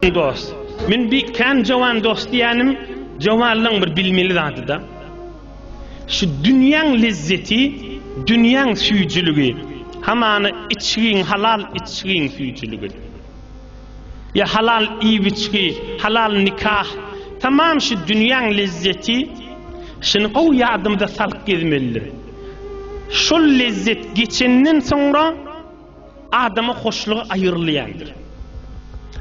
Eý dost, men bi kän jowan dost diýýänim jowanlygyň bir bilmeli zadyda. Şu dünýäň lezzeti, dünýäň süýjüligi, hamana içgiň, halal içgiň süýjüligi. Ýa halal iýip-içgi, halal nikah, tamam şu dünýäň lezzeti, şuny gowy ýadymyza salyp gezmelidir. Şol lezzet geçenden soňra. Adama hoşlugy aýyrylýandyr.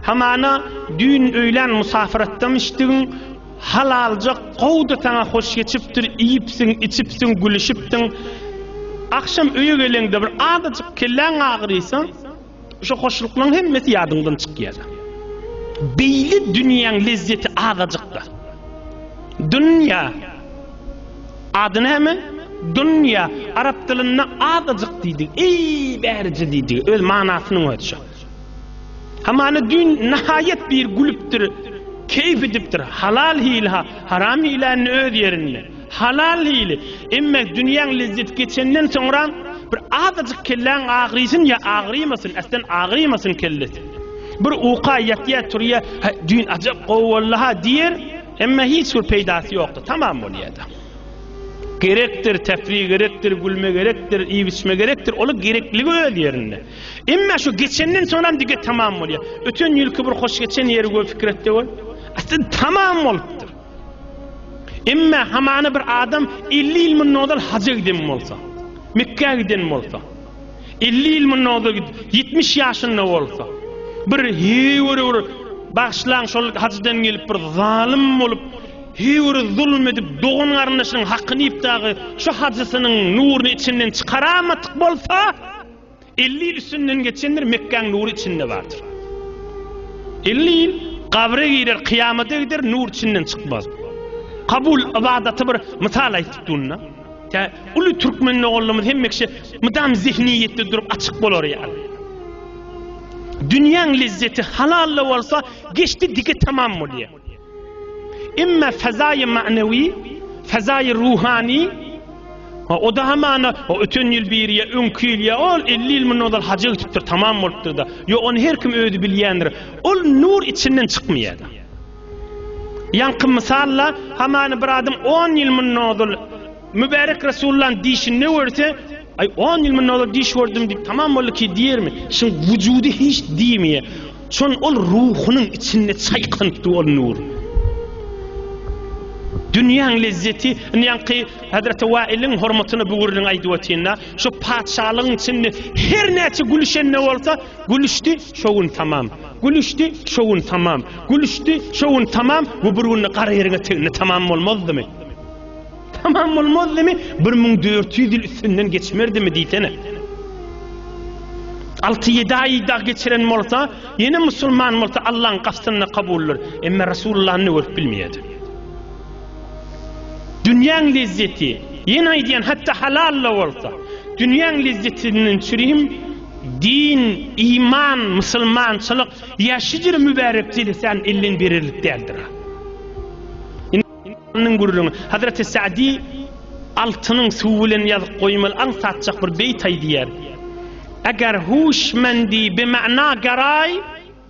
Hamana düýn öýlän musafir atdan içdigiň halalja gowy-da saňa hoş geçipdir, iýipsiň, içipsiň, gülüşipsiň. Agşam öýe geleňde bir azajyk kelläň agyrysa, şo hoşluklaryň hemmesi ýadyňdan çykýar. Beýle dünýäň lezzeti azajykda. Dünýä. Ady näme? Dunýa. Arap dilinde azajyk diýdigi, eý, bärije diýdigi. Öz manasynyň özi şo. Hamana düýn nahaýat bir gülüpdir, keýp edipdir. Halal hili-ha, haram hili indi öz ýerinde. Halal hili. Emma dünýäň lezzeti geçenden soňra bir azajyk kelläň agyrysyn ýa agyrymasyn, äsden agyrymasyn kellesi. Bir uka ýatýa-turýa, Hä, düýn ajap gowy boldy-ha diýer. Emma hiç bir peýdasy ýokdy, tamam bolýardy. Gerekdir, täsli gerekdir, gülme gerekdir, iýip-içme gerekdir, olar gerekligi öz ýerinde. Emma şu geçenden soňam dige tamam bolýar. Öten ýylky bir hoş geçen ýeri göz pikir etde bol. Aslynda tamam bolupdyr. Emma hamana bir adam 50 ýyl mundan ozal haja giden bolsa, Mekgä giden bolsa, 50 ýyl mundan ozal git, 70 ýaşynda bolsa. Bir heýwere bir bagşlaň şol hajydan gelip bir zalym bolup, heýwere zulum edip, dogan garyndaşynyň hakyny iýip dagy şu hajysynyň nuruny içinden çykaramadyk bolsa, 50 ýyl üstünden geçendir, Mekgäň nury içinde bardyr. 50 ýyl gabra girer, kyýamata gider, nur içinden çykmaz. Kabul ibadaty bir mysal aýdyp durna. Tä uly türkmen nogollumyz hemmekşe mydam zihniyetde durup açyk bolar ya. Dünýäň lezzeti halalla bolsa geçdi dige tamam bolýa. Emma fazaýy manewi, fazaýy ruhani Ha o da hamana o öten ýyl bir ýa öňki ýyl ýa ol 50 ýyl mundan ozal haja gitipdir tamam bolupdyr da. Ýok ony her kim özi bilýändir. Ol nur içinden çykmaýar. Ýaňky mysal-la, hamany bir adam on ýyl mundan ozal mübärek Resulullahyň dişinde görse, Aý, on ýyl mundan ozal diş gördüm diýip, tamam bolduki diýermi? Şuň wujudy hiç diýmeýär. Şon ol ruhunyň içinde çaýkanypdy ol nur. Dünýäň lezzeti, indi ýaňky Hazreti Wailiň hormatyna bu gürrüňi aýdyp otyryn-da, şu patyşalygyň içinde her näçe gülüşen-de bolsa, gülüşdi, şo gün tamam. Gülüşdi, şo gün tamam. Gülüşdi, şo gün tamam we bir günde gara ýeriňe tegende tamam bolmazdymy? Tamam bolmazdymy? 1400 ýyl üstünden geçmerdimi diýsene. 6-7 aý dag geçiren bolsa, ýene musulman bolsa Allah'ın gastynda kabuldyr. Emme Resulullah'yny görüp bilmeýärdi. Dünýäň lezzeti, ýene aýdýan, hatda halal da bolsa, dünýäň lezzetinden çürim Din, iman, musulmançylyk ýa şidir mübärek jelesän elden bererlik däldir-a. Indi gürrüňi. Hazreti Sa'di altynyň suwy bilen ýazyp goýmaly aňsatjak bir beýt aýdýar. Eger huşmendi bimana garaý,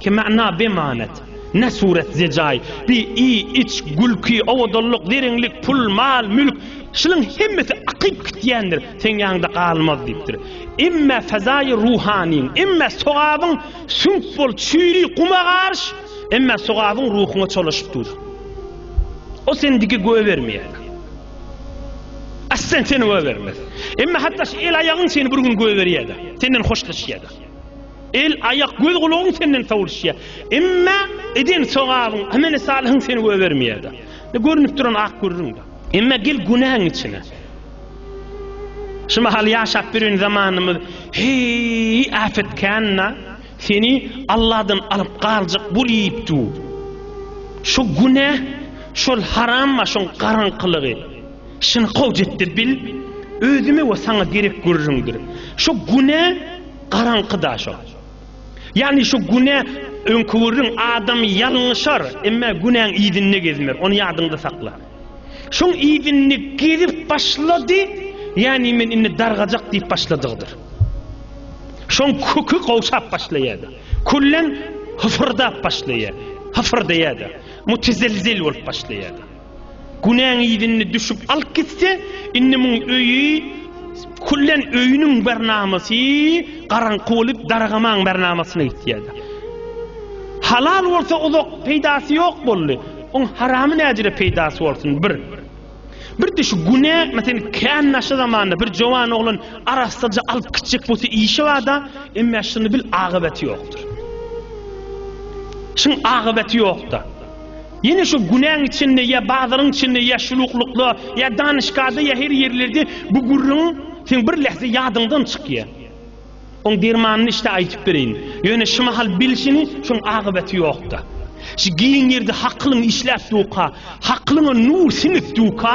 Ki mana bemanet. Ne suret zejaý, bi i iç, gülki, owadanlyk, zeriňlik, pul, mal, mülk, şulyň hemmesi akyp gitýändir, seň ýanyňda galmaz diýipdir. Emme fezaýy ruhanyň, emme sogabyň süňk bol çüýri guma garyş, emme sogabyň ruhuňa çolaşyp dur. O seni diki göýbermeýär. Aslen seni göýbermez. Emme hatda şu el-aýagyň seni bir gün göýberýär-de, senden hoşlaşýar-da. El, aýak, göz, gulagyň senden sowulşýar. Emma eden sogabyň, ameli salyhyň seni goýbermeýär-de. Indi görnüp duran ak gürrüň-de. Emma gel günäň içine. Şu mahal ýaşap ýören zamanymyz heý äpet kän-de, seni Alladan alyp galjak bul iýip dur. Şu günä, şol haram başyň garaňkylygy, şyny kowjetde bil, özüme we saňa gerek gürrüňdir. Şu günä, Garaňky da şo. Ýagny şu günä öňki gürrüň adam ýalňyşar, emma günäň yzynda gezmer. Ony ýadyňda sakla. Şoň yzynda gezip başlady, ýagny men indi dargajak diýip başladygydyr. Şoň köki gowşap başlaýardy. Kullen hyfyrdap başlaýar. Hyfyrdaýardy. Mutezilzil bolup başlaýardy. Günäň yzyny düşüp alyp gitse, indi muň öýi küllen öýüniň bernamasy garaňky bolup dargamaň bernamasyna gitýär. Halal bolsa uzak peýdasy ýok boldy. Oň haramy näjire peýdasy bolsun bir. Birde şu günä mesen kän naşa zamanda bir jowan oglan arassaja alyp gitjek bolsa işi barda, emme şuny bil agybaty ýokdur. Şuň agybaty ýokda. Ýene şu günäň içinde ýa bazaryň içinde ýa şuluklykda ýa danyşgada ýa her ýerlerde bu gürrüň seň bir lähze ýadyňdan çykýa. Oň dermanyny işte aýtyp bereýin. Ýöne şu mahal bil şini şoň agybaty ýokda. Şu giň ýerde hakylyň işläp duka, hakylyňa nur siňip duka,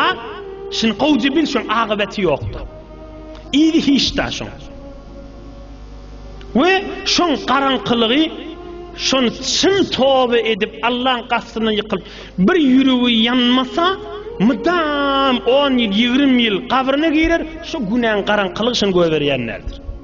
şini gowja bil şoň agybaty ýokda. Yzy hiçda şoň. we şoň garaňkylygy şon çyn toba edip Allaň gastyna ýykylyp bir ýüregi ýanmasa mydam on ýyl ýigrimi ýyl gabryna girer şo günäň garaňkylygy şony göberýänlerdir.